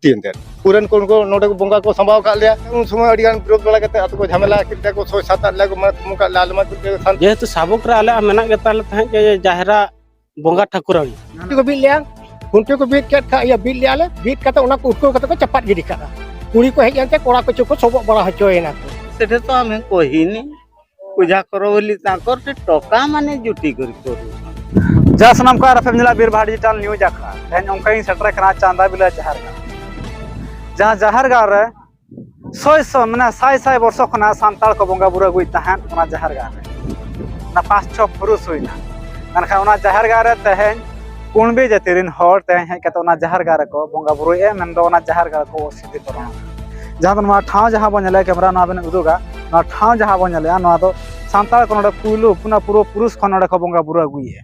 ᱛᱤᱱᱛᱮ ᱯᱩᱨᱟᱱ ᱠᱚ ᱩᱱᱠᱩ ᱱᱚᱰᱮ ᱠᱚ ᱵᱚᱸᱜᱟ ᱠᱚ ᱥᱟᱢᱵᱟᱣ ᱠᱟᱜ ᱞᱮᱭᱟ ᱩᱱ ᱥᱚᱢᱚᱭ ᱟᱹᱰᱤ ᱜᱟᱱ ᱵᱤᱨᱳᱫ ᱵᱟᱲᱟ ᱠᱟᱛᱮ ᱟᱛᱳ ᱠᱚ ᱡᱷᱟᱢᱮᱞᱟ ᱠᱮᱫ ᱞᱮᱭᱟ ᱠᱚ ᱥᱚᱭ ᱥᱟᱛ ᱟᱴ ᱞᱮᱭᱟ ᱠᱚ ᱢᱟᱱᱮ ᱛᱩᱢᱩ ᱠᱟᱜ ᱞᱮᱭᱟ ᱟᱞᱮ ᱢᱟ ᱥᱟᱱ ᱡᱮᱦᱮᱛᱩ ᱥᱟᱵᱚᱠ ᱨᱮ ᱟᱞᱮᱭᱟᱜ ᱢᱮᱱᱟᱜ ᱜᱮ ᱛᱟᱞᱮ ᱛᱟᱦᱮᱸᱫ ᱜᱮ ᱡᱟᱦᱮᱨᱟ ᱵᱚᱸᱜᱟ ᱴᱷᱟᱹᱠᱩᱨᱟᱹᱱ ᱠᱷᱩᱱᱴᱤ ᱠᱚ ᱵᱤᱫ ᱞᱮᱭᱟ ᱠᱷᱩᱱᱴᱤ ᱠᱚ ᱵᱤᱫ ᱠᱮᱫ ᱠᱷᱟᱡ ᱤᱭᱟᱹ ᱵᱤᱫ ᱞᱮᱭᱟ ᱞᱮ ᱵᱤᱫ ᱠᱟᱛᱮ ᱚᱱᱟ ᱠᱚ ᱩᱴᱠᱟᱹᱣ ᱠᱟᱛᱮ ᱠᱚ ᱪᱟᱯᱟᱫ ᱜᱤᱰᱤ ᱠᱟᱜᱼᱟ ᱠᱩᱲᱤ ᱠᱚ ᱦᱮᱡ ᱮᱱᱛᱮ ᱠᱚᱲᱟ ᱠᱚ ᱪᱚᱠᱚ ᱥᱚᱵᱚᱜ ᱵᱟᱲᱟ ᱦᱚᱪᱚᱭᱮᱱᱟ ᱠᱚ ᱥᱮᱴᱮᱨ ᱛᱚ ᱟᱢ ᱠᱚᱦᱤᱱᱤ ᱯᱩᱡᱟ ᱠᱚᱨᱚ ᱵᱚᱞᱤ ᱛᱟᱠᱚᱨ ᱛᱮ ᱴᱚᱠᱟ ᱢᱟᱱᱮ ᱡᱩᱴᱤ ᱠᱚᱨᱤ ᱠᱚᱨᱩ ᱡᱟ ᱥᱟᱱᱟᱢ ᱠᱚ ᱟᱨ ᱯᱮ ᱧᱮᱞᱟ ᱵᱤᱨ ᱵᱟᱦᱟ ᱰᱤᱡᱤᱴᱟᱞ ᱱᱤᱭᱩᱡ ᱟᱠᱷᱲᱟ ᱛᱮᱦᱮᱧ ᱚᱱᱠᱟ ᱜᱤᱧ ᱥᱮᱴᱮᱨ ᱠᱟᱱᱟ ᱪᱟᱸᱫᱟ ᱵᱤᱞᱟ ᱡᱟᱦᱟᱨ ᱜᱟᱲ ᱡᱟᱦᱟᱸ ᱡᱟᱦᱟᱨ ᱜᱟᱲ ᱨᱮ ᱥᱚᱭ ᱥᱚ ᱢᱟᱱᱮ ᱥᱟᱭ ᱥᱟᱭ ᱵᱚᱨᱥᱚ ᱠᱷᱚᱱᱟᱜ ᱥᱟᱱᱛᱟᱲ ᱠᱚ ᱵᱚᱸᱜᱟ ᱵᱩᱨᱩ ᱟᱹᱜᱩᱭᱮᱫ ᱛᱟᱦᱮᱸᱫ ᱚᱱᱟ ᱡᱟᱦᱟᱨ ᱜᱟᱲ ᱨᱮ ᱚᱱᱟ ᱯᱟᱸᱪ ᱪᱷᱚ ᱯᱩᱨᱩᱥ ᱦᱩᱭᱱᱟ ᱢᱮᱱᱠᱷᱟᱱ ᱚᱱᱟ ᱡᱟᱦᱟᱨ ᱜᱟᱲ ᱨᱮ ᱛᱮᱦᱮᱧ ᱠᱩᱬᱵᱤ ᱡᱟᱹᱛᱤ ᱨᱮᱱ ᱦᱚᱲ ᱛᱮᱦᱮᱧ ᱦᱮᱡ ᱠᱟᱛᱮ ᱚᱱᱟ ᱡᱟᱦᱟᱨ ᱜᱟᱲ ᱨᱮᱠᱚ ᱵᱚᱸᱜᱟ ᱵᱩᱨᱩᱭᱮᱫᱼᱟ ᱢᱮᱱᱫᱚ ᱚᱱᱟ ᱡᱟᱦᱟᱨ ᱜᱟᱲ ᱠᱚ ᱡᱟᱦᱟᱸ ᱫᱚ ᱱᱚᱣᱟ ᱴᱷᱟᱶ ᱡᱟᱦᱟᱸ ᱵᱚᱱ ᱧᱮᱞᱮᱫ ᱠᱮᱢᱮᱨᱟ ᱱᱚᱣᱟ ᱵᱮᱱ ᱩᱫᱩᱜᱟ ᱱᱚᱣᱟ ᱴᱷᱟᱶ ᱡᱟᱦᱟᱸ ᱵᱚᱱ ᱧᱮᱞᱮᱫᱼᱟ ᱱᱚᱣᱟ ᱫᱚ ᱥᱟᱱᱛᱟᱲ ᱠᱚ ᱱᱚᱰᱮ ᱯᱩᱭᱞᱩ ᱚᱱᱟ ᱯᱩᱨᱟᱹ ᱯᱩᱨᱩᱥ ᱠᱷᱚᱱ ᱱᱚᱰᱮ ᱠᱚ ᱵᱚᱸᱜᱟ ᱵᱩᱨᱩ ᱟᱹᱜᱩᱭᱮᱫᱼᱟ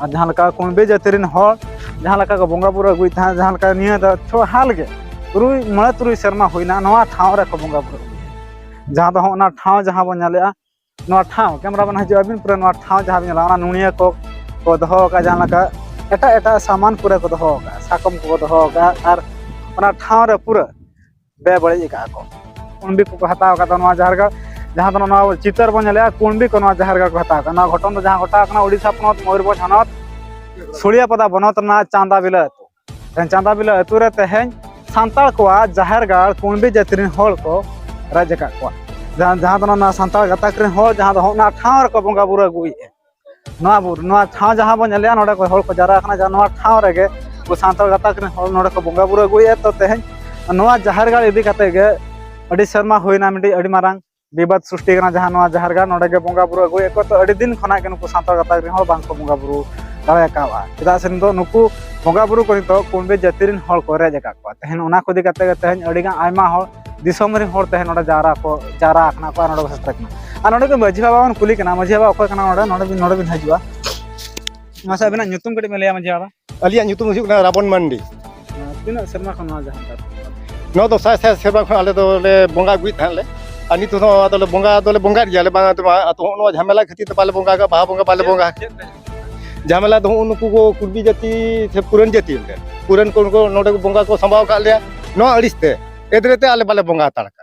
ᱟᱨ ᱡᱟᱦᱟᱸ ᱞᱮᱠᱟ ᱠᱩᱬᱵᱤ ᱡᱟᱹᱛᱤ ᱨᱮᱱ ᱦᱚᱲ ᱡᱟᱦᱟᱸ ᱞᱮᱠᱟ ᱠᱚ ᱵᱚᱸᱜᱟ ᱵᱩᱨᱩ ᱟᱹᱜᱩᱭᱮᱫ ᱛᱟᱦᱮᱸᱫ ᱡᱟᱦᱟᱸ ᱞᱮᱠᱟ ᱱᱤᱭᱟᱹ ᱫᱚ ᱪᱷᱚ ᱦᱟᱞ ᱜᱮ ᱛᱩᱨᱩᱭ ᱢᱚᱬᱮ ᱛᱩᱨᱩᱭ ᱥᱮᱨᱢᱟ ᱦᱩᱭᱱᱟ ᱱᱚᱣᱟ ᱴᱷᱟᱶ ᱨᱮᱠᱚ ᱵᱚᱸᱜᱟ ᱵᱩᱨᱩ ᱟᱹᱜᱩᱭᱮᱫᱼᱟ ᱡᱟᱦᱟᱸ ᱫᱚ ᱦᱚᱸᱜᱼᱚ ᱱᱟ ᱴᱷᱟᱶ ᱡᱟᱦᱟᱸ ᱵᱚᱱ ᱧᱮᱞᱮᱫᱼᱟ ᱱᱚᱣᱟ ᱴᱷᱟᱶ ᱠᱮᱢᱮᱨᱟ ᱢᱮᱱ ᱦᱤᱡᱩᱜ ᱟᱹᱵᱤᱱ ᱯᱩᱨᱟᱹ ᱱᱚᱣᱟ ᱴᱷᱟᱶ ᱡᱟᱦᱟᱸ ᱵᱤᱱ ᱧᱮᱞᱟ ᱚᱱᱟ ᱱᱩᱱᱤᱭᱟᱹ ᱠᱚ ᱠᱚ ᱫᱚᱦᱚ ᱟᱠᱟᱫ ᱡᱟᱦᱟᱸ ᱞᱮᱠᱟ ᱮᱴᱟᱜ ᱮᱴᱟᱜ ᱥᱟᱢᱟᱱ ᱯᱩᱨᱟᱹ ᱠᱚ ᱫᱚᱦᱚ ᱟᱠᱟᱫ ᱥᱟᱠᱚᱢ ᱠᱚ ᱫᱚᱦᱚ ᱟᱠᱟᱫ ᱟᱨ ᱚᱱᱟ ᱴᱷᱟᱶ ᱨᱮ ᱯᱩᱨᱟᱹ ᱵᱮ ᱵᱟᱹᱲᱤᱡ ᱟᱠᱟᱫ ᱠᱚ ᱠᱩᱬᱵᱤ ᱠᱚᱠᱚ ᱦᱟᱛᱟᱣ ᱟᱠᱟᱫ ᱱᱚᱣᱟ ᱡᱟᱦᱟᱸ ᱨᱮᱜᱮ ᱡᱟᱦᱟᱸ ᱫᱚ ᱱᱚᱣᱟ ᱪᱤᱛᱟᱹᱨ ᱵᱚᱱ ᱧᱮᱞᱮᱜᱼᱟ ᱠᱩᱬᱵᱤ ᱠᱚ ᱱᱚᱣᱟ ᱡᱟᱦᱟᱸ ᱨᱮᱜᱮ ᱠᱚ ᱦᱟᱛᱟᱣ ᱟᱠᱟᱫ ᱱᱚᱣᱟ ᱜᱷᱚᱴᱚᱱ ᱫᱚ ᱡᱟᱦᱟᱸ ᱜᱷᱚᱴᱟᱣ ᱟᱠᱟᱱᱟ ᱳᱰᱤᱥᱟ ᱯᱚᱱᱚᱛ ᱢᱚᱭᱩᱨᱵᱷᱚᱸᱡᱽ ᱦᱚᱱᱚᱛ ᱥᱩᱲᱤᱭᱟᱯᱟᱫᱟ ᱵᱚᱱᱚᱛ ᱨᱮᱱᱟᱜ ᱪᱟᱸᱫᱟ ᱵᱤᱞᱟᱹ ᱟᱹᱛᱩ ᱪᱟᱸᱫᱟ ᱵᱤᱞᱟᱹ ᱟᱹᱛᱩ ᱨᱮ ᱛᱮᱦᱮᱧ ᱥᱟᱱᱛᱟᱲ ᱠᱚᱣᱟᱜ ᱡᱟᱦᱮᱨ ᱜᱟᱲ ᱠᱩᱬᱵᱤ ᱡᱟᱹᱛᱤ ᱨᱮᱱ ᱦᱚᱲ ᱠᱚ ᱨᱟᱡᱽ ᱟᱠᱟᱫ ᱠᱚᱣᱟ ᱡᱟᱦᱟᱸ ᱡᱟᱦᱟᱸ ᱫᱚ ᱱᱚᱣᱟ ᱥᱟᱱᱛᱟᱲ ᱜᱟᱛᱟᱠ ᱨᱮᱱ ᱦᱚᱲ ᱡᱟᱦᱟᱸ ᱫᱚ ᱚᱱᱟ ᱴᱷᱟᱶ ᱨᱮᱠᱚ ᱵᱚᱸᱜᱟ ᱵᱩᱨᱩ ᱟᱹᱜᱩᱭᱮᱫᱼᱟ ᱱᱚᱣᱟ ᱵᱩᱨᱩ ᱱᱚᱣᱟ ᱴᱷᱟᱶ ᱡᱟᱦᱟᱸ ᱵᱚᱱ ᱧᱮᱞᱮᱜᱼᱟ ᱱᱚᱰᱮ ᱠᱚ ᱦᱚᱲ ᱠᱚ ᱡᱟᱣᱨᱟ ᱟᱠᱟᱱᱟ ᱡᱟᱦᱟᱸ ᱱᱚᱣᱟ ᱴᱷᱟᱶ ᱨᱮᱜᱮ ᱩᱱᱠᱩ ᱥᱟᱱᱛᱟᱲ ᱜᱟᱛᱟᱠ ᱨᱮᱱ ᱦᱚᱲ ᱱᱚᱰᱮ ᱠᱚ ᱵᱚᱸᱜᱟ ᱵᱩᱨᱩ ᱟᱹᱜᱩᱭᱮᱫᱼᱟ ᱛᱚ ᱛᱮᱦᱮᱧ ᱱᱚᱣᱟ ᱡᱟᱦᱮᱨ ᱜᱟᱲ ᱤᱫᱤ ᱠᱟᱛᱮ ᱜᱮ ᱟᱹᱰᱤ ᱥᱮᱨᱢᱟ ᱦᱩᱭᱱᱟ ᱢᱤᱫᱴᱤᱡ ᱟᱹᱰᱤ ᱢᱟᱨᱟᱝ ᱵᱤᱵᱟᱫ ᱥᱨᱤᱥᱴᱤ ᱠᱟᱱᱟ ᱡᱟᱦᱟᱸ ᱱᱚᱣᱟ ᱡᱟᱦᱮᱨ ᱜᱟᱲ ᱱᱚᱰᱮ ᱜᱮ ᱵᱚᱸᱜᱟ ᱵᱩᱨᱩ ᱟᱹᱜᱩᱭᱮᱫ ᱠᱚ ᱛᱚ ᱟᱹᱰᱤ ᱫᱤᱱ ᱠᱷᱚᱱᱟᱜ ᱜᱮ ᱱᱩᱠᱩ ᱥᱟᱱᱛᱟᱲ ᱜᱟᱛᱟᱠ ᱨᱮᱱ ᱦᱚᱲ ᱵᱟᱝᱠᱚ ᱵᱚᱸᱜᱟ ᱵᱩᱨᱩ ᱫᱟᱲᱮ ᱟᱠᱟᱫᱼᱟ ᱪᱮᱫᱟᱜ ᱥᱮ ᱱᱤᱛᱚᱜ ᱱᱩᱠᱩ ᱵᱚᱸᱜᱟ ᱵᱩᱨᱩ ᱠᱚ ᱱᱤᱛᱚᱜ ᱠᱩᱬᱵᱤ ᱡᱟᱹᱛᱤ ᱨᱮᱱ ᱦᱚᱲ ᱠᱚ ᱨᱮᱡ ᱟᱠᱟᱫ ᱠᱚᱣᱟ ᱛᱮᱦᱮᱧ ᱚᱱᱟ ᱠᱚ ᱤᱫᱤ ᱠᱟᱛᱮ ᱜᱮ ᱛᱮᱦᱮᱧ ᱟᱹᱰᱤᱜᱟᱱ ᱟᱭᱢᱟ ᱦᱚᱲ ᱫᱤᱥᱚᱢ ᱨᱮᱱ ᱦᱚᱲ ᱛᱮᱦᱮᱧ ᱱᱚᱰᱮ ᱡᱟᱣᱨᱟ ᱠᱚ ᱡᱟᱣᱨᱟ ᱟᱠᱟᱱᱟ ᱠᱚ ᱟᱨ ᱱᱚᱰᱮ ᱠᱚ ᱥᱮᱴᱮᱨ ᱟᱠᱟᱱᱟ ᱟᱨ ᱱᱚᱰᱮ ᱜᱮ ᱢᱟᱹᱡᱷᱤ ᱵᱟᱵᱟ ᱵᱚᱱ ᱠᱩᱞᱤ ᱠᱟᱱᱟ ᱢᱟᱹᱡᱷᱤ ᱵᱟᱵᱟ ᱚᱠᱚᱭ ᱠᱟᱱᱟ ᱱᱚᱰᱮ ᱱᱚᱰᱮ ᱵᱤᱱ ᱱᱚᱰᱮ ᱵᱤᱱ ᱦᱤᱡᱩᱜᱼᱟ ᱢᱟᱥᱮ ᱟᱵᱤᱱᱟᱜ ᱧᱩᱛᱩᱢ ᱠᱟᱹᱴᱤᱡ ᱵᱤᱱ ᱞᱟᱹᱭᱟ ᱢᱟᱹᱡᱷᱤ ᱵᱟᱵᱟ ᱟᱹᱞᱤᱧᱟᱜ ᱧᱩᱛᱩᱢ ᱦᱩᱭᱩᱜ ᱠᱟᱱᱟ ᱨᱟᱵᱚᱱ ᱢᱟᱱᱰᱤ ᱛᱤᱱᱟᱹᱜ ᱥᱮᱨᱢᱟ ᱠᱷᱚᱱ ᱱᱚᱣᱟ ᱡᱟᱦᱟᱸ ᱱᱚᱣᱟ ᱫᱚ ᱥᱟᱭ ᱥᱟᱭ ᱥᱮᱨᱢᱟ ᱠᱷᱚᱱ ᱟᱞᱮ ᱫᱚᱞᱮ ᱵᱚᱸᱜᱟ ᱟᱹᱜᱩᱭᱮᱫ ᱛᱟᱦᱮᱸᱫ ᱞᱮ ᱟᱨ ᱱᱤᱛ ᱦᱚᱸ ᱟᱫᱚᱞᱮ ᱵᱚᱸᱜᱟ ᱫᱚᱞᱮ ᱵᱚᱸᱜᱟᱭᱮᱫ ᱜᱮᱭᱟᱞᱮ ᱵᱟᱝ ᱟᱫᱚ ᱦᱚᱸᱜᱼᱚ ᱱᱚᱣᱟ ᱡᱷᱟᱢᱮᱞᱟ ᱠᱷᱟᱹᱛᱤᱨ ᱛᱮ ᱵᱟᱞᱮ ᱵᱚᱸᱜᱟ ᱵᱟᱦᱟ ᱵᱚᱸᱜᱟ ᱵᱟᱞᱮ ᱵᱚᱸᱜᱟ ᱡᱷᱟᱢᱮᱞᱟ ᱫᱚ ᱦᱚᱸᱜᱼᱚ ᱱᱩᱠᱩ ᱠᱚ ᱠᱩᱲᱵᱤ ᱡᱟᱹᱛᱤ ᱥᱮ ᱯᱩᱨᱟᱱ ᱡᱟᱹᱛᱤ ᱯᱩᱨᱟᱱ ᱠᱚ ᱱᱚᱰᱮ ᱠᱚ ᱵᱚᱸᱜᱟ ᱠᱚ ᱥᱟᱢᱵᱟᱣ ᱟᱠᱟᱫ ᱞᱮᱭᱟ ᱱᱚᱣᱟ ᱟᱹᱲᱤᱥ ᱛᱮ ᱮᱫᱽᱨᱮ ᱛᱮ ᱟᱞᱮ ᱵᱟᱞᱮ ᱵᱚᱸᱜᱟ ᱦᱟᱛᱟᱲ ᱠᱟᱱᱟ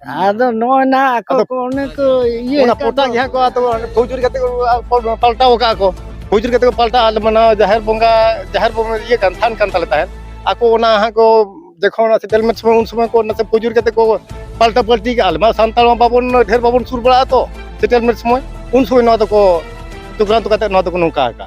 ᱟᱫᱚ ᱱᱚᱜᱼᱚᱭ ᱱᱟ ᱟᱠᱚ ᱟᱫᱚ ᱠᱚ ᱚᱱᱮ ᱠᱚ ᱤᱭᱟᱹ ᱚᱱᱟ ᱟᱠᱟᱫ ᱯᱚᱴᱟᱜ ᱫᱚ᱾ ᱡᱟᱦᱟᱸ ᱠᱚ ᱟᱫᱚ ᱯᱷᱩᱡᱩᱨᱤ ᱠᱟᱛᱮ ᱠᱚ ᱟ- ᱯᱟᱞ- ᱯᱟᱞᱴᱟᱣ ᱠᱟᱜᱼᱟ ᱠᱚ ᱯᱷᱩᱡᱩᱨᱤ ᱠᱟᱛᱮ ᱠᱚ ᱯᱟᱞᱴᱟᱣ ᱟᱞᱮ ᱢᱟᱱᱟᱣ ᱡᱟᱦᱮᱨ ᱵᱚᱸᱜᱟ ᱡᱟᱦᱮᱨ ᱵᱚᱸᱜᱟ ᱤᱭᱟᱹ ᱠᱟᱱ ᱛᱷᱟᱱ ᱠᱟᱱ ᱛᱟᱞᱮ ᱛᱟᱦᱮᱸᱫ ᱟᱠᱚ ᱚᱱᱟ ᱦᱟᱸᱜ ᱠᱚ ᱡᱚᱠᱷᱚᱱ ᱚᱱᱟ ᱥᱮᱴᱮᱞᱢᱮᱱᱴ ᱥᱚᱢᱚᱭ ᱩᱱ ᱥᱚᱢᱚᱭ ᱠᱚ ᱱᱟᱥᱮ ᱯᱷᱩᱡᱩᱨ ᱠᱟᱛᱮ ᱠᱚ ᱯᱟᱞᱴᱟ ᱯᱟᱞᱴᱤ ᱠᱟᱜᱼᱟ ᱟᱞᱮ ᱢᱟ ᱥᱟᱱᱛᱟᱲ ᱢᱟ ᱵᱟᱵᱚᱱ ᱰᱷᱮᱨ ᱵᱟᱵᱚᱱ ᱥᱩᱨ ᱵᱟᱲᱟᱜᱼᱟ ᱛᱚ ᱥᱮᱴᱮᱞᱢᱮᱱᱴ ᱥᱚᱢᱚᱭ ᱩᱱ ᱥᱚᱢᱚᱭ ᱱᱚᱣᱟ ᱫᱚᱠᱚ ᱪᱚᱠᱨᱟᱱᱛᱚ ᱠᱟᱛᱮ ᱱᱚᱣᱟ ᱫᱚᱠᱚ ᱱᱚᱝᱠᱟ ᱟᱠᱟᱜᱼᱟ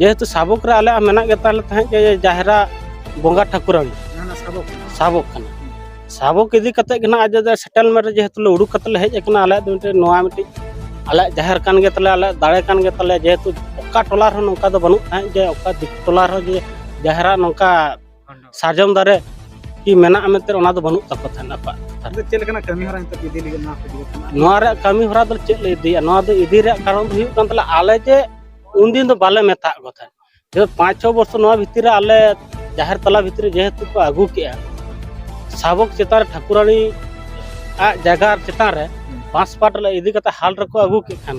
ᱡᱮᱦᱮᱛᱩ ᱥᱟᱵᱚᱠ ᱨᱮ ᱟᱞᱮᱭᱟᱜ ᱢᱮᱱᱟᱜ ᱜᱮ ᱛᱟᱞᱮ ᱛᱟᱦᱮᱸᱫ ᱡᱮ ᱡᱟᱦᱮᱨᱟ ᱵᱚᱸᱜᱟ ᱴᱷᱟᱹᱠᱩᱨᱟᱹᱱ ᱥᱟᱵᱚᱠ ᱠᱟᱱᱟ ᱥᱟᱵᱚᱠ ᱤᱫᱤ ᱠᱟᱛᱮ ᱜᱮ ᱱᱟᱜ ᱟᱡ ᱥᱮᱴᱮᱞᱢᱮᱱᱴ ᱨᱮ ᱡᱮᱦᱮᱛᱩ ᱞᱮ ᱩᱰᱩᱠ ᱠᱟᱛᱮ ᱞᱮ ᱦᱮᱡ ᱟᱠᱟᱱᱟ ᱟᱞᱮᱭᱟᱜ ᱫᱚ ᱢᱤᱫᱴᱮᱱ ᱱᱚᱣᱟ ᱢᱤᱫᱴᱤᱡ ᱟᱞᱮᱭᱟᱜ ᱡᱟᱦᱮᱨ ᱠᱟᱱ ᱜᱮ ᱛᱟᱞᱮ ᱟᱞᱮᱭᱟᱜ ᱫᱟᱲᱮ ᱠᱟᱱ ᱜᱮ ᱛᱟᱞᱮ ᱡᱮᱦᱮᱛᱩ ᱚᱠᱟ ᱴᱚᱞᱟ ᱨᱮᱦᱚᱸ ᱱᱚᱝᱠᱟ ᱫᱚ ᱵᱟᱹᱱᱩᱜ ᱛᱟᱦᱮᱸᱫ ᱡᱮ ᱚᱠᱟ ᱫᱤᱠᱩ ᱴᱚᱞᱟ ᱨᱮᱦᱚᱸ ᱡᱮ ᱡᱟᱦᱮᱨᱟ ᱱᱚᱝᱠᱟ ᱥᱟᱨᱡᱚᱢ ᱫᱟᱨᱮ ᱠᱤ ᱢᱮᱱᱟᱜᱼᱟ ᱢᱮᱱᱛᱮ ᱚᱱᱟ ᱫᱚ ᱵᱟᱹᱱᱩᱜ ᱛᱟᱠᱚ ᱛᱟᱦᱮᱱᱟ ᱟᱠᱚᱣᱟᱜ ᱪᱮᱫ ᱞᱮᱠᱟᱱᱟᱜ ᱠᱟᱹᱢᱤ ᱦᱚᱨᱟ ᱱᱤᱛᱚᱜ ᱤᱫᱤ ᱞᱟᱹᱜᱤᱫ ᱱᱚᱣᱟ ᱨᱮᱭᱟᱜ ᱠᱟᱹᱢᱤ ᱦᱚᱨᱟ ᱫᱚ ᱪᱮᱫ ᱞᱮ ᱤᱫᱤᱭᱟ ᱱᱚᱣᱟ ᱫᱚ ᱤᱫᱤ ᱨᱮᱭᱟᱜ ᱠᱟᱨᱚᱱ ᱫᱚ ᱦᱩᱭᱩᱜ ᱠᱟᱱ ᱛᱟᱞᱮ ᱟᱞᱮ ᱡᱮ ᱩᱱᱫᱤᱱ ᱫᱚ ᱵᱟᱞᱮ ᱢᱮᱛᱟᱜ ᱠᱚ ᱛᱟᱦᱮᱸᱫ ᱡᱮ ᱯᱟᱸᱪ ᱪᱷᱚ ᱵᱚᱨᱥᱚ ᱱᱚᱣᱟ ᱵᱷᱤᱛᱤᱨ ᱨᱮ ᱟᱞᱮ ᱡᱟᱦᱮᱨ ᱛᱟᱞᱟ ᱵᱷᱤᱛᱤᱨ ᱨᱮ ᱡᱮᱦᱮᱛᱩ ᱠᱚ ᱟᱹᱜᱩ ᱠᱮᱜᱼᱟ ᱥᱟᱵᱚᱠ ᱪᱮᱛᱟᱱ ᱨᱮ ᱴᱷᱟᱹᱠᱩᱨᱟᱱᱤ ᱟᱜ ᱡᱟᱭᱜᱟ ᱪᱮᱛᱟᱱ ᱨᱮ ᱵᱟᱸᱥ ᱯᱟᱴ ᱞᱮ ᱤᱫᱤ ᱠᱟᱛᱮ ᱦᱟᱞ ᱨᱮᱠᱚ ᱟᱹᱜᱩ ᱠᱮᱫ ᱠᱷᱟᱱ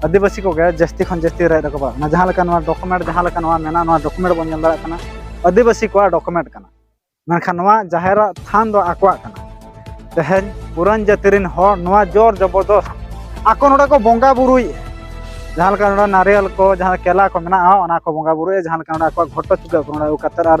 ᱟᱹᱫᱤᱵᱟᱹᱥᱤ ᱠᱚᱜᱮ ᱡᱟᱹᱥᱛᱤ ᱠᱷᱚᱱ ᱡᱟᱹᱥᱛᱤ ᱨᱟᱭ ᱨᱟᱠᱟᱵᱟ ᱚᱱᱟ ᱡᱟᱦᱟᱸ ᱞᱮᱠᱟ ᱱᱚᱣᱟ ᱰᱚᱠᱩᱢᱮᱱᱴ ᱡᱟᱦᱟᱸ ᱞᱮᱠᱟ ᱱᱚᱣᱟ ᱢᱮᱱᱟᱜᱼᱟ ᱱᱚᱣᱟ ᱰᱚᱠᱩᱢᱮᱱᱴ ᱵᱚᱱ ᱧᱮᱞ ᱫᱟᱲᱮᱭᱟᱜ ᱠᱟᱱᱟ ᱟᱹᱫᱤᱵᱟᱹᱥᱤ ᱠᱚᱣᱟᱜ ᱰᱚᱠᱩᱢᱮᱱᱴ ᱠᱟᱱᱟ ᱢᱮᱱᱠᱷᱟᱱ ᱱᱚᱣᱟ ᱡᱟᱦᱮᱨᱟᱜ ᱛᱷᱟᱱ ᱫᱚ ᱟᱠᱚᱣᱟᱜ ᱠᱟᱱᱟ ᱛᱮᱦᱮᱧ ᱯᱩᱨᱟᱱ ᱡᱟᱹᱛᱤ ᱨᱮᱱ ᱦᱚᱲ ᱱᱚᱣᱟ ᱡᱳᱨ ᱡᱚᱵᱚᱨᱫᱚᱥ ᱟᱠᱚ ᱱᱚᱰᱮ ᱠᱚ ᱵᱚᱸᱜᱟ ᱵᱩᱨᱩᱭᱮᱫᱼᱟ ᱡᱟᱦᱟᱸ ᱞᱮᱠᱟ ᱱᱚᱰᱮ ᱱᱟᱨᱤᱭᱟᱞ ᱠᱚ ᱡᱟᱦᱟᱸ ᱠᱮᱞᱟ ᱠᱚ ᱢᱮᱱᱟᱜᱼᱟ ᱚᱱᱟ ᱠᱚ ᱵᱚᱸᱜᱟ ᱵᱩᱨᱩᱭᱮᱫᱼᱟ ᱡᱟᱦᱟᱸ ᱞᱮᱠᱟ ᱱᱚᱰᱮ ᱟᱠᱚᱣᱟᱜ ᱜᱷᱚᱴᱚ ᱪᱩᱠᱟᱹ ᱠᱚ ᱱᱚᱰᱮ ᱟᱹᱜᱩ ᱠᱟᱛᱮᱫ ᱟᱨ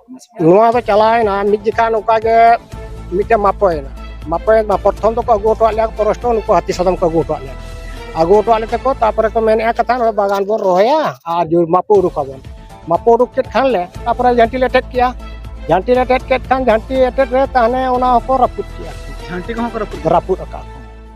ᱱᱚᱣᱟ ᱫᱚ ᱪᱟᱞᱟᱣᱮᱱᱟ ᱢᱤᱫ ᱡᱮᱠᱷᱟ ᱱᱚᱝᱠᱟ ᱜᱮ ᱢᱤᱫᱴᱮᱱ ᱢᱟᱯᱚᱭᱮᱱᱟ ᱢᱟᱯᱚᱭᱮᱱ ᱢᱟ ᱯᱨᱚᱛᱷᱚᱢ ᱫᱚᱠᱚ ᱟᱹᱜᱩ ᱦᱚᱴᱚᱣᱟᱫ ᱞᱮᱭᱟ ᱯᱚᱨᱚᱥᱴᱚ ᱱᱩᱠᱩ ᱦᱟᱹᱛᱤ ᱥᱟᱫᱚᱢ ᱠᱚ ᱟᱹᱜᱩ ᱦᱚᱴᱚᱣᱟᱫ ᱞᱮᱭᱟ ᱟᱹᱜᱩ ᱦᱚᱴᱚᱣᱟᱫ ᱞᱮᱛᱮ ᱠᱚ ᱛᱟᱨᱯᱚᱨᱮ ᱠᱚ ᱢᱮᱱᱮᱫᱼᱟ ᱠᱟᱛᱷᱟ ᱱᱚᱣᱟ ᱵᱟᱜᱟᱱ ᱵᱚᱱ ᱨᱚᱦᱚᱭᱟ ᱟᱨ ᱢᱟᱯᱚ ᱩᱰᱩᱠᱟᱵᱚᱱ ᱢᱟᱯᱚ ᱩᱰᱩᱠ ᱠᱮᱫ ᱠᱷᱟᱱ ᱞᱮ ᱛᱟᱨᱯᱚᱨᱮ ᱡᱷᱟᱹᱱᱴᱤ ᱞᱮ ᱮᱴᱮᱫ ᱠᱮᱜᱼᱟ ᱡᱷᱟᱹᱱᱴᱤ ᱞᱮ ᱮᱴᱮᱫ ᱠᱮᱫ ᱠᱷᱟᱱ ᱡᱷᱟᱹᱱᱴᱤ ᱮᱴᱮᱫ ᱨᱮ ᱛᱟᱦᱚᱞᱮ ᱚᱱᱟ ᱦᱚᱸᱠᱚ ᱨᱟᱹᱯᱩᱫ ᱠᱮᱜᱼᱟ ᱡᱷᱟᱹᱱᱴᱤ ᱠᱚᱦᱚᱸ ᱠᱚ ᱨᱟᱹᱯᱩᱫ ᱨᱟᱹᱯᱩᱫ ᱟᱠᱟᱫ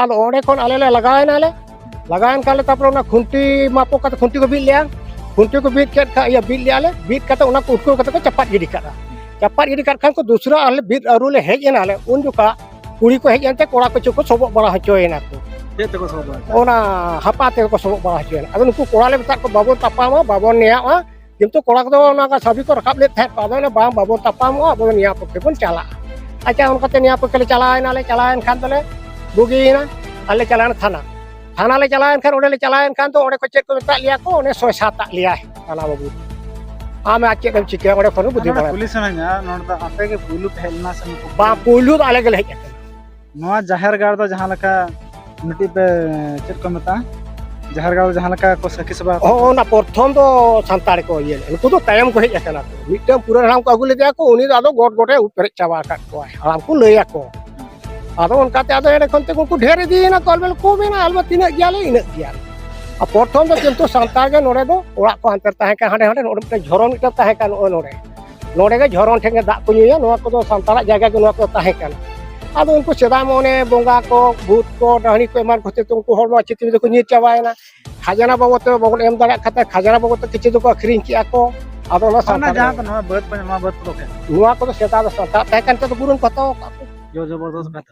ᱟᱨ ᱚᱸᱰᱮ ᱠᱷᱚᱱ ᱟᱞᱮ ᱞᱮ ᱞᱟᱜᱟᱣᱮᱱᱟᱞᱮ ᱞᱟᱜᱟᱣᱮᱱ ᱠᱷᱟᱱ ᱞᱮ ᱛᱟᱨᱯᱚᱨᱮ ᱚᱱᱟ ᱠᱷᱩᱱᱴᱤ ᱢᱟᱯᱚ ᱠᱟᱛᱮ ᱠᱷᱩᱱᱴᱤ ᱠᱚ ᱵᱤᱫ ᱞᱮᱜᱼᱟ ᱠᱷᱩᱱᱴᱤ ᱠᱚ ᱵᱤᱫ ᱠᱮᱫ ᱠᱷᱟᱱ ᱤᱭᱟᱹ ᱵᱤᱫ ᱞᱮᱜᱼᱟ ᱞᱮ ᱵᱤᱫ ᱠᱟᱛᱮ ᱚᱱᱟ ᱠᱚ ᱩᱴᱠᱟᱹᱣ ᱠᱟᱛᱮ ᱠᱚ ᱪᱟᱯᱟᱫ ᱜᱤᱰᱤ ᱠᱟᱜᱼᱟ ᱪᱟᱯᱟᱫ ᱜᱤᱰᱤ ᱠᱟᱜ ᱠᱷᱟᱱ ᱠᱚ ᱫᱩᱥᱨᱟ ᱟᱞᱮ ᱵᱤᱨ ᱟᱹᱨᱩ ᱞᱮ ᱦᱮᱡ ᱮᱱᱟᱞᱮ ᱩᱱ ᱡᱚᱠᱷᱟᱜ ᱠᱩᱲᱤ ᱠᱚ ᱦᱮᱡ ᱮᱱᱛᱮ ᱠᱚᱲᱟ ᱠᱚᱪᱚ ᱠᱚ ᱥᱚᱵᱚᱜ ᱵᱟᱲᱟ ᱦᱚᱪᱚᱭᱮᱱᱟ ᱠᱚ ᱪᱮᱫ ᱛᱮᱠᱚ ᱥᱚᱵᱚᱜ ᱵᱟᱲᱟ ᱚᱱᱟ ᱦᱟᱯᱟ ᱛᱮᱜᱮ ᱠᱚ ᱥᱚᱵᱚᱜ ᱵᱟᱲᱟ ᱦᱚᱪᱚᱭᱮᱱᱟ ᱟᱫᱚ ᱱᱩᱠᱩ ᱠᱚᱲᱟ ᱞᱮ ᱢᱮᱛᱟᱫ ᱠᱚᱣᱟ ᱵᱟᱵᱚᱱ ᱛᱟᱯᱟᱢᱟ ᱵᱟᱵᱚᱱ ᱱᱮᱭᱟᱜᱼᱟ ᱠᱤᱱᱛᱩ ᱠᱚᱲᱟ ᱠᱚᱫᱚ ᱚᱱᱟ ᱠᱚ ᱥᱟᱵᱤ ᱠᱚ ᱨᱟᱠᱟᱵ ᱞᱮᱫ ᱛᱟᱦᱮᱸᱫ ᱟᱫᱚ ᱚᱱᱟ ᱵᱟᱝ ᱵᱟᱵᱚᱱ ᱛᱟᱯᱟᱢᱚᱜᱼᱟ ᱟᱵᱚ ᱫᱚ ᱱᱤᱭᱟ ᱯᱚᱠᱠᱷᱮ ᱵᱚᱱ ᱪᱟᱞᱟᱜᱼᱟ ᱟᱪᱪᱷᱟ ᱚᱱᱠᱟᱛᱮ ᱱᱤᱭᱟ ᱯᱚᱠᱠᱷᱮ ᱞᱮ ᱪᱟᱞᱟᱣᱮᱱᱟ ᱞᱮ ᱪᱟᱞᱟᱣᱮᱱ ᱠᱷᱟᱱ ᱫᱚᱞᱮ ᱵᱩᱜᱤᱭᱮᱱᱟ ᱟᱨ ᱞᱮ ᱪᱟᱞᱟᱣᱮᱱᱟ ᱛᱷᱟᱱᱟ ᱛᱷᱟᱱᱟ ᱞᱮ ᱪᱟᱞᱟᱣᱮᱱ ᱠᱷᱟᱱ ᱚᱸᱰᱮ ᱞᱮ ᱪᱟᱞᱟᱣᱮᱱ ᱠᱷᱟᱱ ᱫᱚ ᱚᱸᱰᱮ ᱠᱚ ᱪᱮᱫ ᱠᱚ ᱢᱮᱛᱟᱜ ᱞᱮᱭᱟ ᱠᱚ ᱚᱸᱰᱮ ᱥᱚᱭ ᱥᱟᱛᱟᱜ ᱞᱮᱭᱟ ᱛᱷᱟᱱᱟ ᱵᱟᱹᱵᱩ ᱟᱢ ᱟᱨ ᱪᱮᱫ ᱮᱢ ᱪᱤᱠᱟᱹᱭᱟ ᱚᱸᱰᱮ ᱠᱷᱚᱱ ᱵᱩᱫᱷᱤ ᱵᱟᱲᱟᱭᱟ ᱯᱩᱞᱤᱥ ᱥᱟᱱᱟᱧᱟ ᱱᱚᱰᱮ ᱫᱚ ᱟᱯᱮ ᱜᱮ ᱯᱩᱭᱞᱩ ᱯᱮ ᱦᱮᱡ ᱞᱮᱱᱟ ᱥᱮ ᱵᱟᱝ ᱯᱩᱭᱞᱩ ᱫᱚ ᱟᱞᱮ ᱜᱮᱞᱮ ᱦᱮᱡ ᱟᱠᱟᱱᱟ ᱱᱚᱣᱟ ᱡᱟᱦᱮᱨ ᱜᱟᱲ ᱫᱚ ᱡᱟᱦᱟᱸ ᱞᱮᱠᱟ ᱢᱤᱫᱴᱤᱡ ᱯᱮ ᱪᱮᱫ ᱠᱚ ᱢᱮᱛᱟᱜᱼᱟ ᱡᱟᱦᱮᱨ ᱜᱟᱲ ᱫᱚ ᱡᱟᱦᱟᱸ ᱞᱮᱠᱟ ᱠᱚ ᱥᱟᱹᱠᱷᱤ ᱥᱚᱵᱷᱟ ᱦᱚᱸ ᱚᱱᱟ ᱯᱨᱚᱛᱷᱚᱢ ᱫᱚ ᱥᱟᱱᱛᱟᱲ ᱠᱚ ᱤᱭᱟᱹ ᱞᱮᱫ ᱩᱱᱠᱩ ᱫᱚ ᱛᱟᱭᱚᱢ ᱠᱚ ᱦᱮᱡ ᱟᱠᱟᱱᱟ ᱠᱚ ᱢᱤᱫᱴᱟᱝ ᱯᱩᱨᱟᱹ ᱦᱟᱲᱟᱢ ᱠᱚ ᱟᱹᱜᱩ ᱞᱮᱫᱮᱭᱟ ᱠᱚ ᱩᱱᱤ ᱫᱚ ᱟᱫᱚ ᱜᱚᱴ ᱜᱚᱴᱮ ᱩᱵ ᱯᱮᱨᱮᱡ ᱪᱟᱵᱟ ᱟᱠᱟᱫ ᱠᱚᱣᱟᱭ ᱦᱟᱲᱟᱢ ᱠᱚ ᱞᱟᱹᱭ ᱟᱠᱚ ᱟᱫᱚ ᱚᱱᱠᱟᱛᱮ ᱟᱫᱚ ᱮᱸᱰᱮ ᱠᱷᱚᱱ ᱛᱮ ᱩᱱᱠᱩ ᱰᱷᱮᱨ ᱤᱫᱤᱭᱮᱱᱟ ᱠᱚ ᱟᱞᱮ ᱠᱚ ᱢᱮᱱᱟ ᱟᱞᱮ ᱛᱤᱱᱟᱹᱜ ᱜᱮᱭᱟᱞᱮ ᱤᱱᱟᱹᱜ ᱜᱮᱭᱟᱞᱮ ᱟᱨ ᱯᱨᱚᱛᱷᱚᱢ ᱫᱚ ᱠᱤᱱᱛᱩ ᱥᱟᱱᱛᱟᱲ ᱜᱮ ᱱᱚᱰᱮ ᱫᱚ ᱚᱲᱟᱜ ᱠᱚ ᱦᱟᱱᱛᱮ ᱛᱟᱦᱮᱸ ᱠᱟᱱᱟ ᱦᱟᱸᱰᱮ ᱦᱟᱸᱰᱮ ᱱᱚᱰᱮ ᱢᱤᱫᱴᱟᱝ ᱡᱷᱚᱨᱚ ᱢᱤᱫᱴᱟᱝ ᱛᱟᱦᱮᱸ ᱠᱟᱱᱟ ᱱᱚᱜᱼᱚᱭ ᱱᱚᱰᱮ ᱱᱚᱰᱮ ᱜᱮ ᱡᱷᱚᱨᱚᱱ ᱴᱷᱮᱱ ᱜᱮ ᱫᱟᱜ ᱠᱚ ᱧᱩᱭᱟ ᱱᱚᱣᱟ ᱠᱚᱫᱚ ᱥᱟᱱᱛᱟᱲᱟᱜ ᱡᱟᱭᱜᱟ ᱜᱮ ᱱᱚᱣᱟ ᱠᱚ ᱛᱟᱦᱮᱸ ᱠᱟᱱᱟ ᱟᱫᱚ ᱩᱱᱠᱩ ᱥᱮᱫᱟᱭ ᱢᱟ ᱚᱱᱮ ᱵᱚᱸᱜᱟ ᱠᱚ ᱵᱷᱩᱛ ᱠᱚ ᱰᱟᱹᱦᱲᱤ ᱠᱚ ᱮᱢᱟᱱ ᱠᱷᱟᱹᱛᱤᱨ ᱛᱮ ᱩᱱᱠᱩ ᱦᱚᱲ ᱱᱚᱣᱟ ᱪᱤᱛᱨᱤ ᱫᱚᱠᱚ ᱧᱤᱨ ᱪᱟᱵᱟᱭᱮᱱᱟ ᱠᱷᱟᱡᱽᱱᱟ ᱵᱟᱵᱚᱫ ᱛᱮ ᱵᱟᱵᱚᱱ ᱮᱢ ᱫᱟᱲᱮᱭᱟᱜ ᱠᱷᱟᱱ ᱠᱷᱟᱡᱽᱱᱟ ᱵᱟᱵᱚᱫ ᱛᱮ ᱠᱤᱪᱷᱩ ᱫᱚᱠᱚ ᱟᱹᱠᱷᱨᱤᱧ ᱠᱮᱜᱼᱟ ᱠᱚ ᱟᱫᱚ ᱚᱱᱟ ᱥᱟᱱᱛᱟᱲ ᱡᱟᱦᱟᱸ ᱱᱚᱣᱟ ᱵᱟᱹᱫᱽ ᱱᱚᱣᱟ ᱵᱟᱹᱫᱽ ᱠᱚᱫᱚ ᱱᱚᱣᱟ ᱠᱚᱫᱚ ᱥᱮᱫᱟᱭ ᱫᱚ ᱥᱟᱱᱛᱟᱲ ᱛᱟᱦᱮᱸ ᱠᱟᱱ ᱛᱮ ᱫᱚ ᱵᱩᱨᱩᱱ ᱠᱚ ᱦᱟᱛᱟᱣ ᱟᱠᱟᱫ ᱠᱚ ᱡᱳᱨ ᱡᱚᱵᱚᱨᱫᱚᱥᱛ ᱠᱟᱛᱮ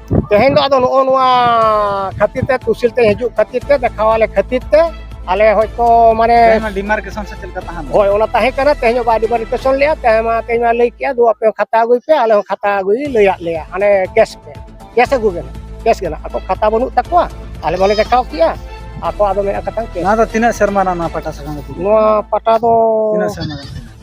ᱛᱮᱦᱮᱧ ᱫᱚ ᱟᱫᱚ ᱱᱚᱜᱼᱚ ᱱᱚᱣᱟ ᱠᱷᱟᱹᱛᱤᱨ ᱛᱮ ᱛᱩᱥᱤᱞ ᱛᱮ ᱦᱤᱡᱩᱜ ᱠᱷᱟᱹᱛᱤᱨ ᱛᱮ ᱫᱮᱠᱷᱟᱣᱟᱞᱮ ᱠᱷᱟᱹᱛᱤᱨ ᱛᱮ ᱟᱞᱮ ᱦᱚᱭᱛᱚ ᱢᱟᱱᱮ ᱰᱤᱢᱟᱨᱠᱮᱥᱚᱱ ᱥᱮ ᱪᱮᱫ ᱞᱮᱠᱟ ᱛᱟᱦᱮᱱ ᱦᱳᱭ ᱚᱱᱟ ᱛᱟᱦᱮᱸ ᱠᱟᱱᱟ ᱛᱮᱦᱮᱧ ᱦᱚᱸ ᱵᱟᱭ ᱰᱤᱢᱟᱨᱠᱮᱥᱚᱱ ᱞᱮᱜᱼᱟ ᱛᱮᱦᱮᱧ ᱢᱟ ᱛᱮᱦᱮᱧ ᱢᱟ ᱞᱟᱹᱭ ᱠᱮᱜᱼᱟ ᱫᱩ ᱟᱯᱮ ᱠᱷᱟᱛᱟ ᱟᱹᱜᱩᱭ ᱯᱮ ᱟᱞᱮ ᱦᱚᱸ ᱠᱷᱟᱛᱟ ᱟᱹᱜᱩᱭ ᱞᱟᱹᱭᱟᱫ ᱞᱮᱭᱟ ᱦᱟᱱᱮ ᱠᱮᱥ ᱯᱮ ᱠᱮᱥ ᱟᱹᱜᱩ ᱜᱮ ᱠᱮᱥ ᱜᱮ ᱟᱠᱚ ᱠᱷᱟᱛᱟ ᱵᱟᱹᱱᱩᱜ ᱛᱟᱠᱚᱣᱟ ᱟᱞᱮ ᱵᱟᱞᱮ ᱫᱮᱠᱷᱟᱣ ᱠᱮᱜᱼᱟ ᱟᱠᱚ ᱟᱫᱚ ᱢᱮᱱᱟᱜ ᱠᱟᱛᱷᱟ ᱱᱚᱣᱟ ᱫᱚ ᱛᱤᱱᱟᱹᱜ ᱥᱮᱨᱢᱟ ᱨᱮᱱᱟᱜ ᱱᱚᱣᱟ ᱯᱟᱴᱟ ᱥᱟᱠᱟᱢ ᱫᱚ ᱱᱚᱣᱟ ᱯᱟᱴᱟ ᱫᱚ ᱛᱤᱱᱟᱹᱜ ᱥᱮᱨᱢᱟ ᱨᱮᱱᱟᱜ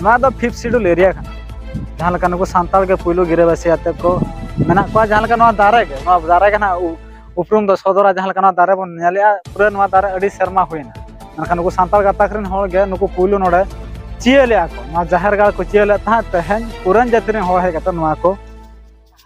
ᱱᱚᱣᱟ ᱫᱚ ᱯᱷᱤᱯᱛᱷ ᱥᱤᱰᱩᱞ ᱮᱨᱤᱭᱟ ᱠᱟᱱᱟ ᱡᱟᱦᱟᱸ ᱞᱮᱠᱟ ᱱᱩᱠᱩ ᱥᱟᱱᱛᱟᱲ ᱜᱮ ᱯᱩᱭᱞᱩ ᱜᱤᱨᱟᱹᱵᱟᱹᱥᱤ ᱟᱛᱮ ᱠᱚ ᱢᱮᱱᱟᱜ ᱠᱚᱣᱟ ᱡᱟᱦᱟᱸ ᱞᱮᱠᱟ ᱱᱚᱣᱟ ᱫᱟᱨᱮ ᱜᱮ ᱱᱚᱣᱟ ᱫᱟᱨᱮ ᱜᱮ ᱱᱟᱜ ᱩᱯᱨᱩᱢ ᱫᱚ ᱥᱚᱫᱚᱨᱟ ᱡᱟᱦᱟᱸ ᱞᱮᱠᱟ ᱱᱚᱣᱟ ᱫᱟᱨᱮ ᱵᱚᱱ ᱧᱮᱞᱮᱜᱼᱟ ᱯᱩᱨᱟᱹ ᱱᱚᱣᱟ ᱫᱟᱨᱮ ᱟᱹᱰᱤ ᱥᱮᱨᱢᱟ ᱦᱩᱭᱱᱟ ᱢᱮᱱᱠᱷᱟᱱ ᱱᱩᱠᱩ ᱥᱟᱱᱛᱟᱲ ᱜᱟᱛᱟᱠ ᱨᱮᱱ ᱦᱚᱲ ᱜᱮ ᱱᱩᱠᱩ ᱯᱩᱭᱞᱩ ᱱᱚᱰᱮ ᱪᱤᱭᱟᱹ ᱞᱮᱜᱼᱟ ᱠᱚ ᱱᱚᱣᱟ ᱡᱟᱦᱮᱨ ᱜᱟᱲ ᱠᱚ ᱪᱤᱭᱟᱹ ᱞᱮᱫ ᱛᱟᱦᱮᱸᱫ ᱛᱮᱦᱮᱧ ᱯᱩᱨᱟᱱ ᱡᱟᱹᱛᱤ ᱨᱮᱱ ᱦᱚᱲ ᱦᱮᱡ ᱠᱟᱛᱮ ᱱᱚᱣᱟ ᱠᱚ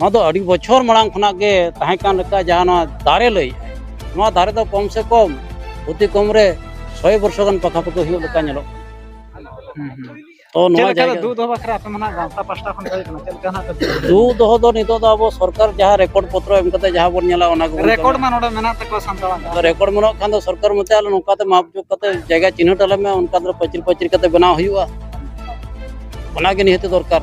ᱱᱚᱣᱟ ᱫᱚ ᱟᱹᱰᱤ ᱵᱚᱪᱷᱚᱨ ᱢᱟᱲᱟᱝ ᱠᱷᱚᱱᱟᱜ ᱜᱮ ᱛᱟᱦᱮᱸ ᱠᱟᱱ ᱞᱮᱠᱟ ᱡᱟᱦᱟᱸ ᱱᱚᱣᱟ ᱫᱟᱨᱮ ᱞᱟᱹᱭ ᱱᱚᱣᱟ ᱫᱟᱨᱮ ᱫᱚ ᱠᱚᱢ ᱥᱮ ᱠᱚᱢ ᱚᱛᱤ ᱠᱚᱢ ᱨᱮ ᱥᱚᱭ ᱵᱚᱨᱥᱚ ᱜᱟᱱ ᱯᱟᱠᱟᱯᱟᱠᱤ ᱦᱩᱭᱩᱜ ᱞᱮᱠᱟ ᱧᱮᱞᱚᱜ ᱛᱚ ᱱᱚᱣᱟ ᱡᱟᱭᱜᱟ ᱫᱩ ᱫᱚᱦᱚ ᱵᱟᱠᱷᱨᱟ ᱟᱯᱮ ᱢᱟᱱᱟ ᱜᱟᱶᱛᱟ ᱯᱟᱥᱴᱟ ᱠᱷᱚᱱ ᱦᱩᱭ ᱠᱟᱱᱟ ᱪᱮᱫ ᱞᱮᱠᱟ ᱱᱟᱜ ᱫᱩ ᱫᱚᱦᱚ ᱫᱚ ᱱᱤᱛᱚᱜ ᱫᱚ ᱟᱵᱚ ᱥᱚᱨᱠᱟᱨ ᱡᱟᱦᱟᱸ ᱨᱮᱠᱚᱨᱰ ᱯᱚᱛᱨᱚ ᱮᱢ ᱠᱟᱛᱮ ᱡᱟᱦᱟᱸ ᱵᱚᱱ ᱧᱮᱞᱟ ᱚᱱᱟ ᱜᱮᱵᱚᱱ ᱨᱮᱠᱚᱨᱰ ᱢᱟ ᱱᱚᱰᱮ ᱢᱮᱱᱟᱜ ᱛᱟᱠᱚᱣᱟ ᱥᱟᱱᱛᱟᱲᱟᱜ ᱨᱮᱠᱚᱨᱰ ᱢᱮᱱᱟᱜ ᱠᱷᱟᱱ ᱫᱚ ᱥᱚᱨᱠᱟᱨ ᱢᱚᱛᱮ ᱟᱞᱮ ᱱᱚᱝᱠᱟ ᱛᱮ ᱢᱟᱯ ᱡᱳᱜ ᱠᱟᱛᱮ ᱡᱟᱭᱜᱟ ᱪᱤᱱᱦᱟᱹᱴ ᱟᱞᱮ ᱢᱮ ᱚᱱᱠᱟ ᱫᱚ ᱯᱟᱹᱪᱤᱨ ᱯᱟᱹᱪᱤᱨ ᱠᱟᱛᱮ ᱵᱮᱱᱟᱣ ᱦᱩᱭᱩᱜᱼᱟ ᱚᱱᱟᱜᱮ ᱱᱤᱦᱟᱹᱛ ᱫᱚᱨᱠᱟᱨ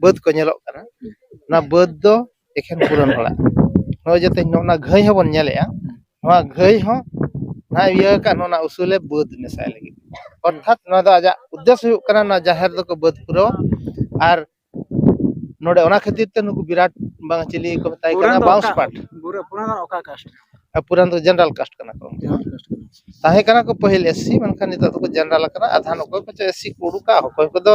ᱵᱟᱹᱫᱽ ᱠᱚ ᱧᱮᱞᱚᱜ ᱠᱟᱱᱟ ᱚᱱᱟ ᱵᱟᱹᱫᱽ ᱫᱚ ᱮᱠᱷᱮᱱ ᱯᱩᱨᱟᱹᱱ ᱦᱚᱲᱟᱜ ᱱᱚᱜᱼᱚᱭ ᱡᱟᱛᱮ ᱱᱚᱣᱟ ᱜᱷᱟᱹᱭ ᱦᱚᱸᱵᱚᱱ ᱧᱮᱞᱮᱜᱼᱟ ᱱᱚᱣᱟ ᱜᱷᱟᱹᱭ ᱦᱚᱸ ᱱᱚᱣᱟ ᱤᱭᱟᱹ ᱟᱠᱟᱫ ᱱᱚᱣᱟ ᱩᱥᱩᱞᱮ ᱵᱟᱹᱫᱽ ᱢᱮᱥᱟᱭ ᱞᱟᱹᱜᱤᱫ ᱚᱨᱛᱷᱟᱛ ᱱᱚᱣᱟ ᱫᱚ ᱟᱡᱟᱜ ᱩᱫᱽᱫᱮᱥᱥᱚ ᱦᱩᱭᱩᱜ ᱠᱟᱱᱟ ᱱᱚᱣᱟ ᱡᱟᱦᱮᱨ ᱫᱚᱠᱚ ᱵᱟᱹᱫᱽ ᱯᱩᱨᱟᱹᱣᱟ ᱟᱨ ᱱᱚᱰᱮ ᱚᱱᱟ ᱠᱷᱟᱹᱛᱤᱨ ᱛᱮ ᱱᱩᱠᱩ ᱵᱤᱨᱟᱴ ᱵᱟᱝ ᱪᱤᱞᱤ ᱠᱚ ᱢᱮᱛᱟᱭ ᱠᱟᱱᱟ ᱵᱟᱣᱩᱥ ᱯᱟᱴ ᱯᱩᱨᱟᱱ ᱫᱚ ᱡᱮᱱᱟᱨᱮᱞ ᱠᱟᱥᱴ ᱠᱟᱱᱟ ᱠᱚ ᱛᱟᱦᱮᱸ ᱠᱟᱱᱟ ᱠᱚ ᱯᱟᱹᱦᱤᱞ ᱮᱥᱥᱤ ᱢᱮᱱᱠᱷᱟᱱ ᱱᱤᱛᱚᱜ ᱫᱚᱠᱚ ᱡᱮᱱᱟᱨᱮᱞ ᱟᱠᱟᱱᱟ ᱟᱫᱷᱟᱱ ᱚᱠᱚᱭ ᱠᱚᱪᱚ ᱮᱥᱥᱤ ᱠᱚ ᱩᱰᱩᱠᱟ ᱚᱠᱚᱭ ᱠᱚᱫᱚ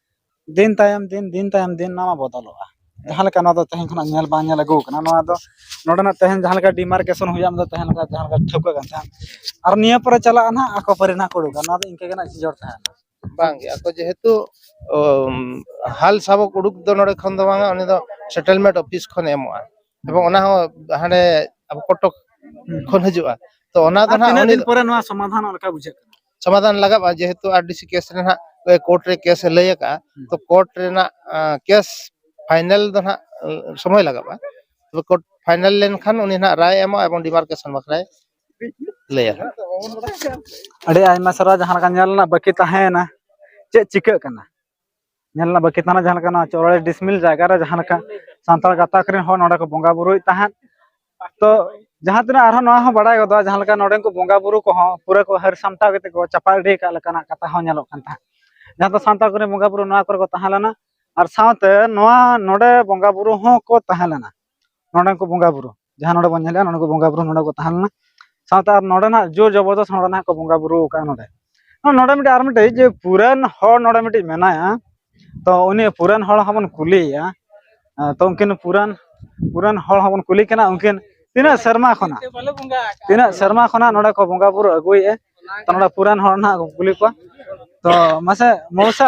ᱫᱤᱱ ᱛᱟᱭᱚᱢ ᱫᱤᱱ ᱫᱤᱱ ᱛᱟᱭᱚᱢ ᱫᱤᱱ ᱱᱚᱣᱟ ᱵᱚᱫᱚᱞᱚᱜᱼᱟ ᱡᱟᱦᱟᱸ ᱞᱮᱠᱟ ᱱᱚᱣᱟ ᱫᱚ ᱛᱮᱦᱮᱧ ᱠᱷᱚᱱᱟᱜ ᱧᱮᱞ ᱵᱟᱝ ᱧᱮᱞ ᱟᱹᱜᱩ ᱠᱟᱱᱟ ᱱᱚᱣᱟ ᱫᱚ ᱱᱚᱰᱮᱱᱟᱜ ᱛᱮᱦᱮᱧ ᱡᱟᱦᱟᱸ ᱞᱮᱠᱟ ᱰᱤᱢᱟᱨᱠᱮᱥᱚᱱ ᱦᱩᱭᱩᱜᱼᱟ ᱚᱱᱟ ᱫᱚ ᱛᱟᱦᱮᱸ ᱞᱮᱱᱠᱷᱟᱱ ᱡᱟᱦᱟᱸ ᱞᱮᱠᱟ ᱴᱷᱟᱹᱣᱠᱟᱹ ᱠᱟᱱ ᱛᱟᱦᱮᱸᱫ ᱟᱨ ᱱᱤᱭᱟᱹ ᱯᱚᱨᱮ ᱪᱟᱞᱟᱜᱼᱟ ᱱᱟᱜ ᱟᱠᱚ ᱯᱟᱹᱨᱤ ᱱᱟᱜ ᱠᱚ ᱩᱰᱩᱠᱟ ᱱᱚᱣᱟ ᱫᱚ ᱤᱱᱠᱟᱹ ᱜᱮ ᱱᱟᱜ ᱡᱤᱭᱟᱹᱲ ᱛᱟᱦᱮᱱᱟ ᱵᱟᱝ ᱜᱮ ᱟᱠᱚ ᱡᱮᱦᱮᱛᱩ ᱦᱟᱞ ᱥᱟᱵᱚᱠ ᱩᱰᱩᱠ ᱫᱚ ᱱᱚᱰᱮ ᱠᱷᱚᱱ ᱫᱚ ᱵᱟᱝᱟ ᱩᱱᱤ ᱫᱚ ᱥᱮᱴᱮᱞᱢᱮᱱᱴ ᱚᱯᱷᱤᱥ ᱠᱷᱚᱱ ᱮᱢᱚᱜᱼᱟ ᱮᱵᱚᱝ ᱚᱱᱟ ᱦᱚᱸ ᱦᱟᱸᱰᱮ ᱟᱵᱚ ᱠᱚᱴᱚᱠ ᱠᱷᱚᱱ ᱦᱤᱡᱩᱜᱼᱟ ᱛᱚ ᱚᱱᱟ ᱫᱚ ᱟᱨ ᱱᱟᱜ ᱛᱤᱱᱟᱹᱜ ᱩᱱᱤ ᱫᱤᱱ ᱯᱚᱨᱮ ᱱᱚᱣᱟ ᱥᱚᱢᱟᱫᱷᱟᱱᱚᱜ ᱞᱮᱠᱟ ᱵᱩᱡᱷᱟᱹᱜ ᱠᱟᱱᱟ ᱥᱚᱢᱟᱫᱷᱟᱱ ᱞᱟᱜᱟᱜᱼᱟ ᱡᱮᱦᱮᱛᱩ ᱟᱨ ᱰᱤ ᱥᱤ ᱠᱮᱥ ᱨᱮ ᱱᱟᱦᱟᱜ ᱠᱳᱨᱴ ᱨᱮ ᱠᱮᱥ ᱮ ᱞᱟᱹᱭ ᱟᱠᱟᱜᱼᱟ ᱛᱚ ᱠᱳᱨᱴ ᱨᱮᱱᱟᱜ ᱠᱮᱥ ᱯᱷᱟᱭᱱᱮᱞ ᱫᱚ ᱱᱟᱦᱟᱜ ᱥᱚᱢᱚᱭ ᱞᱟᱜᱟᱜᱼᱟ ᱛᱚᱵᱮ ᱠᱳᱨᱴ ᱯᱷᱟᱭᱱᱮᱞ ᱞᱮᱱᱠᱷᱟᱱ ᱩᱱᱤ ᱱᱟᱦᱟᱜ ᱨᱟᱭ ᱮ ᱮᱢᱚᱜᱼᱟ ᱮᱵᱚᱝ ᱰᱤᱢᱟᱨᱠᱮᱥᱚᱱ ᱵᱟᱠᱷᱨᱟᱭ ᱞᱟᱹᱭᱟ ᱟᱹᱰᱤ ᱟᱭᱢᱟ ᱥᱟᱨᱦᱟᱣ ᱡᱟᱦᱟᱸ ᱞᱮᱠᱟ ᱧᱮᱞ ᱨᱮᱱᱟᱜ ᱵᱟᱹᱠᱤ ᱛᱟᱦᱮᱸᱭᱮᱱᱟ ᱪᱮᱫ ᱪᱤᱠᱟᱹᱜ ᱠᱟᱱᱟ ᱧᱮᱞ ᱨᱮᱱᱟᱜ ᱵᱟᱹᱠᱤ ᱛᱟᱦᱮᱱᱟ ᱡᱟᱦᱟᱸ ᱞᱮᱠᱟ ᱱᱚᱣᱟ ᱪᱚᱣᱲᱤ ᱰᱤᱥᱢᱤᱞ ᱡᱟᱭᱜᱟ ᱨᱮ ᱡᱟᱦᱟᱸ ᱞᱮᱠᱟ ᱥᱟᱱᱛᱟᱲ ᱜᱟᱛᱟᱠ ᱨᱮᱱ ᱦᱚᱲ ᱱᱚᱰᱮ ᱠᱚ ᱵᱚᱸᱜᱟ ᱵᱩᱨᱩᱭᱮᱫ ᱛᱟᱦᱮᱸᱫ ᱛᱚ ᱡᱟᱦᱟᱸ ᱛᱤᱱᱟᱹᱜ ᱟᱨᱦᱚᱸ ᱱᱚᱣᱟ ᱦᱚᱸ ᱵᱟᱲᱟᱭ ᱜᱚᱫᱚᱜᱼᱟ ᱡᱟᱦᱟᱸ ᱞᱮᱠᱟ ᱱᱚᱰᱮᱱ ᱠᱚ ᱵᱚᱸᱜᱟ ᱵᱩᱨᱩ ᱠᱚᱦᱚᱸ ᱯᱩᱨᱟᱹ ᱠᱚ ᱦᱟᱹᱨ ᱥᱟᱢᱴᱟᱣ ᱠᱟᱛᱮ ᱠᱚ ᱪᱟᱯᱟ ᱤᱫᱤ ᱟᱠᱟᱫ ᱞᱮᱠᱟᱱᱟᱜ ᱠᱟᱛᱷᱟ ᱦᱚᱸ ᱧᱮᱞᱚᱜ ᱠᱟᱱ ᱛᱟᱦᱮᱸᱫ ᱡᱟᱦᱟᱸ ᱫᱚ ᱥᱟᱱᱛᱟᱲ ᱠᱚᱨᱮᱱ ᱵᱚᱸᱜᱟ ᱵᱩᱨᱩ ᱱᱚᱣᱟ ᱠᱚᱨᱮ ᱠᱚ ᱛᱟᱦᱮᱸ ᱞᱮᱱᱟ ᱟᱨ ᱥᱟᱶᱛᱮ ᱱᱚᱣᱟ ᱱᱚᱰᱮ ᱵᱚᱸᱜᱟ ᱵᱩᱨᱩ ᱦᱚᱸᱠᱚ ᱛᱟᱦᱮᱸ ᱞᱮᱱᱟ ᱱᱚᱰᱮᱱ ᱠᱚ ᱵᱚᱸᱜᱟ ᱵᱩᱨᱩ ᱡᱟᱦᱟᱸ ᱱᱚᱰᱮ ᱵᱚᱱ ᱧᱮᱞᱮᱜᱼᱟ ᱱᱚᱰᱮ ᱠᱚ ᱵᱚᱸᱜᱟ ᱵᱩᱨᱩ ᱱᱚᱰᱮ ᱠᱚ ᱛᱟᱦᱮᱸ ᱞᱮᱱᱟ ᱥᱟᱶᱛᱮ ᱟᱨ ᱱᱚᱰᱮᱱᱟᱜ ᱡᱳᱨ ᱡᱚᱵᱚᱨᱫᱚᱥ ᱱᱚᱰᱮᱱᱟᱜ ᱠᱚ ᱵᱚᱸᱜᱟ ᱵᱩᱨᱩ ᱟᱠᱟᱫᱼᱟ ᱱᱚᱰᱮ ᱱᱚᱰᱮ ᱢᱤᱫᱴᱮᱡ ᱟᱨ ᱢᱤᱫᱴᱮᱡ ᱡᱮ ᱯᱩᱨᱟᱱ ᱦᱚᱲ ᱱᱚᱰᱮ ᱢᱤᱫᱴᱮᱡ ᱢᱮᱱᱟᱭᱟ ᱛᱚ ᱩᱱᱤ ᱯᱩᱨᱟᱱ ᱦᱚᱲ ᱦᱚᱸᱵᱚᱱ ᱠᱩᱞᱤᱭᱮᱭᱟ ᱛᱚ ᱩᱱᱠᱤᱱ ᱯᱩᱨᱟᱱ ᱯᱩᱨᱟᱱ ᱦᱚᱲ ᱦᱚᱸᱵᱚᱱ ᱠᱩᱞᱤ ᱠᱟᱱᱟ ᱩᱱᱠᱤᱱ ᱛᱤᱱᱟᱹᱜ ᱥᱮᱨᱢᱟ ᱠᱷᱚᱱᱟᱜ ᱛᱤᱱᱟᱹᱜ ᱥᱮᱨᱢᱟ ᱠᱷᱚᱱᱟᱜ ᱱᱚᱰᱮ ᱠᱚ ᱵᱚᱸᱜᱟ ᱵᱩᱨᱩ ᱟᱹᱜᱩᱭᱮᱫᱼᱟ ᱛᱚ ᱱᱚᱰᱮ ᱯᱩᱨᱟᱱ ᱦᱚᱲ ᱱᱟᱦᱟᱜ ᱠᱚ ᱠᱩᱞᱤ ᱠᱚᱣᱟ ᱛᱚ ᱢᱟᱥᱮ ᱢᱚᱣᱥᱟ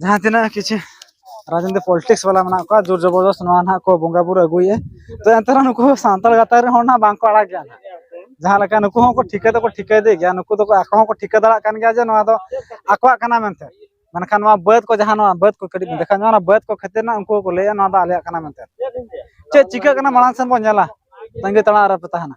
ᱡᱟᱦᱟᱸ ᱛᱤᱱᱟᱹᱜ ᱠᱤᱪᱷᱩ ᱨᱟᱡᱽᱱᱤᱛᱤ ᱯᱚᱞᱤᱴᱤᱠᱥ ᱵᱟᱞᱟ ᱢᱮᱱᱟᱜ ᱠᱚᱣᱟ ᱡᱳᱨ ᱡᱚᱵᱚᱨᱫᱚᱥ ᱱᱚᱣᱟ ᱱᱟᱦᱟᱜ ᱠᱚ ᱵᱚᱸᱜᱟ ᱵᱩᱨᱩ ᱟᱹᱜᱩᱭᱮᱫᱼᱟ ᱛᱚ ᱮᱱᱛᱮ ᱨᱮᱦᱚᱸ ᱱᱩᱠᱩ ᱥᱟᱱᱛᱟᱲ ᱜᱟᱛᱟᱠ ᱨᱮᱱ ᱦᱚᱲ ᱱᱟᱦᱟᱜ ᱵᱟᱝᱠᱚ ᱟᱲᱟᱜ ᱜᱮᱭᱟ ᱡᱟᱦᱟᱸ ᱞᱮᱠᱟ ᱱᱩᱠᱩ ᱦᱚᱸᱠᱚ ᱴᱷᱤᱠᱟᱹ ᱫᱚᱠᱚ ᱴᱷᱤᱠᱟᱹᱭᱮᱫᱮ ᱜᱮᱭᱟ ᱱᱩᱠᱩ ᱫᱚᱠᱚ ᱟᱠᱚ ᱦᱚᱸᱠᱚ ᱴᱷᱤᱠᱟᱹ ᱫᱟᱲᱮᱭᱟᱜ ᱠᱟᱱ ᱜᱮᱭᱟ ᱡᱮ ᱱᱚᱣᱟ ᱫᱚ ᱟᱠᱚᱣᱟᱜ ᱠᱟᱱᱟ ᱢᱮᱱᱛᱮ ᱢᱮᱱᱠᱷᱟᱱ ᱱᱚᱣᱟ ᱵᱟᱹᱫᱽ ᱠᱚ ᱡᱟᱦᱟᱸ ᱱᱚᱣᱟ ᱵᱟᱹᱫᱽ ᱠᱚ ᱠᱟᱹᱴᱤᱡ ᱵᱚᱱ ᱫᱮᱠᱷᱟᱣ ᱧᱚᱜ ᱚᱱᱟ ᱵᱟᱹᱫᱽ ᱠᱚ ᱠᱷᱟᱹᱛᱤᱨ ᱱᱟᱜ ᱩᱱᱠᱩ ᱠᱚ ᱞᱟᱹᱭᱟ ᱱᱚᱣᱟ ᱫᱚ ᱟᱞᱮᱭᱟᱜ ᱠᱟᱱᱟ ᱢᱮᱱᱛᱮ ᱪᱮᱫ ᱪᱤᱠᱟᱹᱜ ᱠᱟᱱᱟ ᱢᱟᱲᱟᱝ ᱥᱮᱱ ᱵᱚᱱ ᱧᱮᱞᱟ ᱛᱟᱺᱜᱤ ᱛᱟᱲᱟᱜ ᱨᱮᱯᱮ ᱛᱟᱦᱮᱱᱟ